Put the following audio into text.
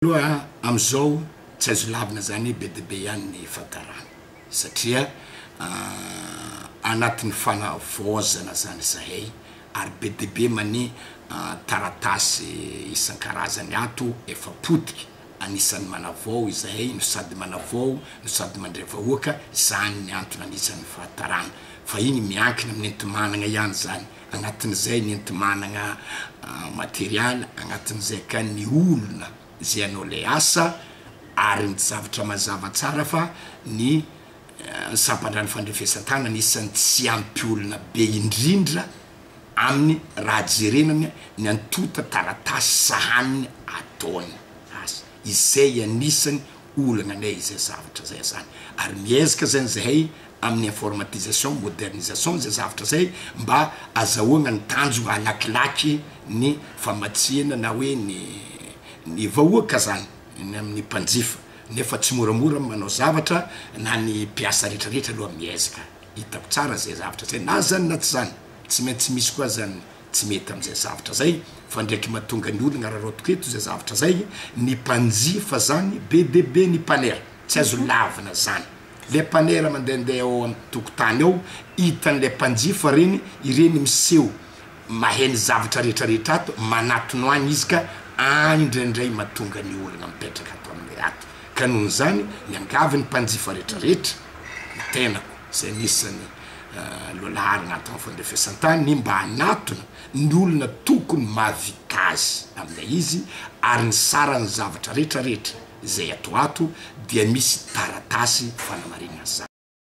Aloha amizao tsy azo lavina zany hoe be de be ihany ny fantarana satria anatiny fanavaozana zany izahay ary be de be mani taratasy isankarazany ato efa potika anisany manavao izahay no sady manavao no sady mandre vahoaka izany ny antony anisany fahatarana fa iny miankina amin entimanagnaiany zany agnatin'izay ny enti-managna materialy, agnatin'izay ka ny olona izay hanao ilay asa, ary ny zavatra mazava tsara fa ny sampandrano fandrefesan-tanana isan'ny tsy ampy olona be indrindra aminy raha jerena ny ny antontan-taratasy sahaniny ataony asa, izay anisany olana anay izay zavatra izay azany ary miezaka zany zahay amin'ny informatisation, modernisation izay zavatra izay mba azahoagna ny tanjogna halakilaky ny famatsiana na hoe ny ny vahoaka zany ny amin'ny mpanjifa nefa tsy moramora ny manao zavatra na ny mpiasa retraretra aloha miezaka hitako tsara izay zavatra izay na zany na tsy zany tsy maintsy misy koa zany tsy mety amin'izay zavatra zay fa ndraiky matonga ny olona araraotiko eto zay zavatra zay ny mpanjifa zany be de be ny mpanera tsy azo lavina zany le mpanera mandende ao am tokotany ao hitan'le mpanjifa reny ireny miseho mahay ny zavatra rehetra rehetra ato manatono any izy ka any ndraindray matonga ny olona mipetraka ato amle ato ka nohon'izany miangavy ny mpanjifa rehetra rehetra ny tenako zay nisany lonaharina ato amin'ny fandrefesan-tany mba hanatona ny olona tokony mahavita azy amin'ilay izy ary ny saran'ny zavatra rehetra rehetra izay ato ato dia misy taratasy fanamarinana izany.